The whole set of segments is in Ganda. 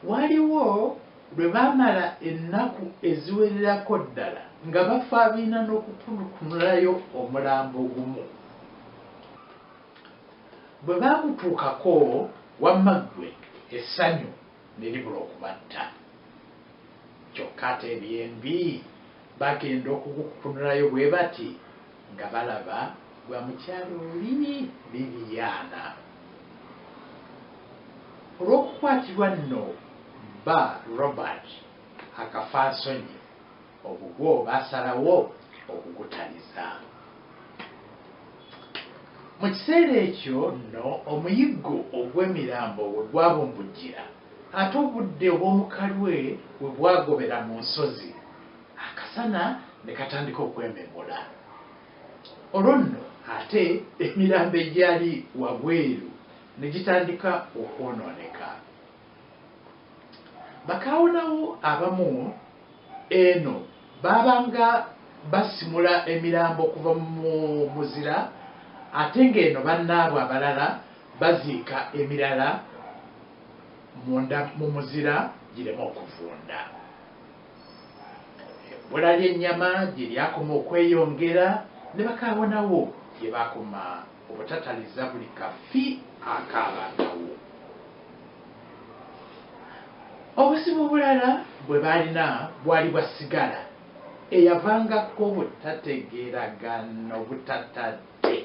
Waliwo lwe baamala ennaku eziwererako ddala nga bafaabiina n'okukunukunulayo omulambo gumu. Bwe baagutuukako, wamma ggwe essanyu ne libula okubatta. Kyokka ate eby'embi Bagenda okukukunulayo bwe bati nga balaba gwa mukyala oli Liliana. Olw'okukwatibwa nno bba Robert Akafansonyi ogugwo baasalawo okugutaliza. Mu kiseera ekyo nno omuyiggo ogw'emirambo we gwabumbujjira. Ate obudde obw'omukalwe we bwagobera mu nsozi, akasana ne katandika okwememula. Olwo nno ate emirambo egyali wabweru ne gitandika okwonooneka. Bakaawonawo abamu. Eno baabanga basimula emirambo okuva mu muzira ate ng'eno bannaabwe abalala baziika emirala munda mu muzira gireme okuvunda. Ebbula ly'ennyama gye lyakoma okweyongera ne bakaawonawo gye baakoma obutataliza buli kafi akaabangawo. Obuzibu obulala bwe baalina bwali bwa sigala eyavangako obutategeeragana obutatadde.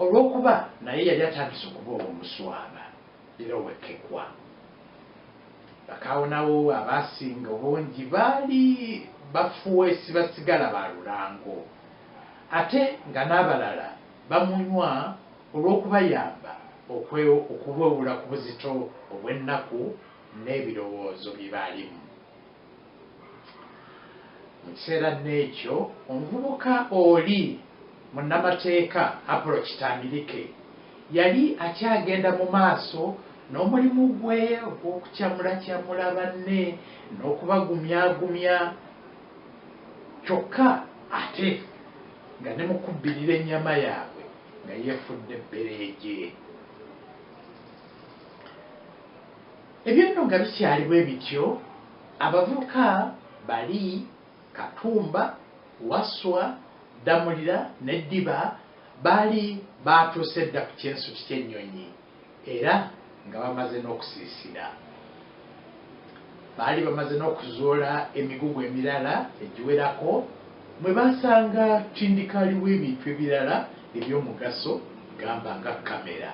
Olw'okuba naye yali atandise okuba ow'omuswaba era ow'ekkekwa, bakaawonawo abaasinga obungi baali bafuweesi ba sigala ba lulango ate nga n'abalala bamunywa. olw'okubayamba okuwewula ku buzito obw'ennaku n'ebirowoozo bye baalimu mu kiseera n'ekyo. Omuvubuka oli munnamateeka Apollo Kitambirike yali akyagenda mu maaso n'omulimu gwe ogw'okukyamulakyamula banne n'okubagumyagumya kyokka ate nga ne mu kubbirira ennyama yaabwe. nga yefudde bbereeje. Ebyo nno nga bikyali bwe bityo, abavubuka bali, Katumba, Wasswa, Ddamulira ne Ddiba baali baatuuse dda ku kyensuti ky'ennyonyi. Era nga bamaze n'okusiisira. Baali bamaze n'okuzuula emigugu emirala egiwerako mwe baasanga tindikaali w'ebintu ebirala eby'omugaso gamba nga kkamera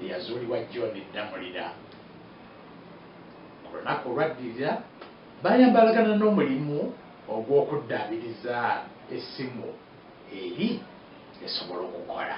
eyazuulibwa John Ddamulira. Ku lunaku olwaddirira baayambalagana n'omulimu ogw'okuddaabiriza essimu eri esobola okukola.